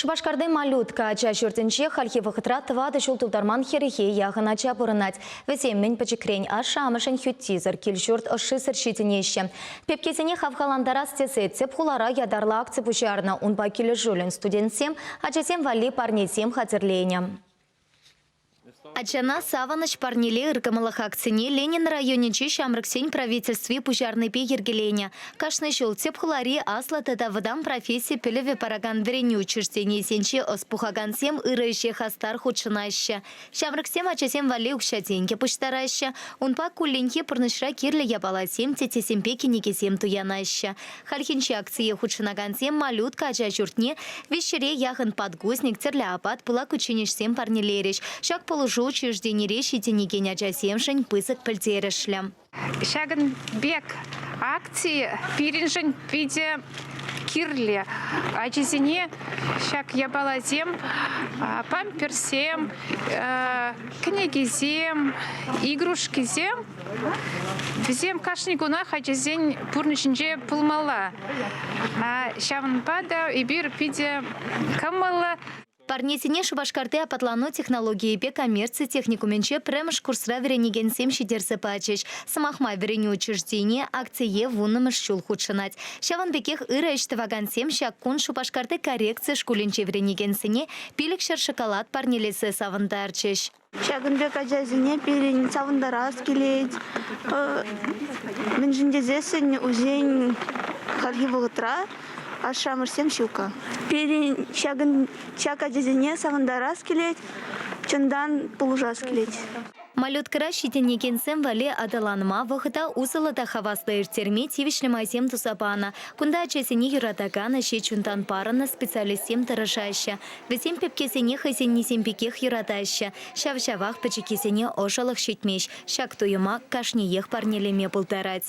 Шупашкарти Малютка ача ҫуртӗнче хальхи вӑхӑтра тӑватӑ ҫул тултарман хӗрӗхе яхӑн ача пурӑнать. Вӗсем мӗн пӗчӗкрен ашшӗ-амӑшӗн хӳттисӗр кил-ҫурт ӑшшисӗр ҫитӗнеҫҫӗ. Пепкесене хавхалантарас тесе тӗп хулара ятарлӑ акци пуҫарнӑ. Унпа килӗшӳллӗн студентсем ачасем валли парнесем хатӗрленӗ. Ачана Савӑнӑҫ парнеле ыркӑмӑллӑх акцине Ленин районӗнчи ҫамрӑксен правительстви пуҫарнипе йӗркеленӗ. Кашни ҫул тӗп хулари аслӑ тата вӑтам професси пӗлӗвӗ паракан вӗренӳ учрежденийӗсенче ӑс пухакансем ырӑ ӗҫе хастар хутшӑнаҫҫӗ. Ҫамрӑксем ачасем валли укҫа-тенкӗ пуҫтараҫҫӗ, унпа кулленхи пурнӑҫра кирлӗ япаласем, теттесемпе кӗнекесем туянаҫҫӗ. Хальхинче акцие хутшӑнакансем Малютка ача ҫуртне виҫҫӗре яхӑн подгузник, тӗрлӗ апат, пылак кучченеҫсем парнелерӗҫ. Ҫак пулӑшу учрежденире ҫитӗнекен ачасемшӗн пысӑк пӗлтерӗшлӗ. Ҫакӑн пек акцие пирӗншӗн питӗ кирлӗ. Ачисене ҫак япаласем, памперсем, кӗнекесем, игрушкисем Вӗсем кашни кунах ачасен пурнӑҫӗнче пулмалла. Ҫавӑнпа та эпир питӗ кӑмӑллӑ. Парнесене Шупашкарти апатлану технологийӗпе коммерци техникумӗнче пӗрремӗш курсра вӗренекенсем ҫитерсе пачӗҫ. Сӑмах май, вӗренӳ учрежденийӗ акцие вуннӑмӗш ҫул хутшӑнать. Ҫавӑн пекех ырӑ ӗҫ тӑвакансем ҫак кун Шупашкарти коррекци шкулӗнче вӗренекенсене пилӗк ҫӗр шоколад парнелесе савӑнтарчӗҫ. Ҫакӑн пек ачасене пирӗн савӑнтарас килет. Мӗншӗн тесессӗн усен хальхи вӑхӑтра ашшӗ-амӑшсем ҫуккӑ. Пирӗн ҫакӑн ҫак ачасене савӑнтарас килет, чунтан пулӑшас килет. Малюткӑра ҫитӗнекенсем валли аталанма вӑхӑта усӑллӑ та хаваслӑ ирттерме тивӗҫлӗ майсем туса панӑ. Кунта ачасене юратакан, ӗҫе чунтан парӑннӑ специалистсем тӑрӑшаҫҫӗ. Вӗсем пепкесене хӑйсеннисем пекех юратаҫҫӗ, ҫав-ҫавах пӗчӗккисене ӑшӑлӑх ҫитмест. Ҫак туйӑма кашниех парнелеме пултарать.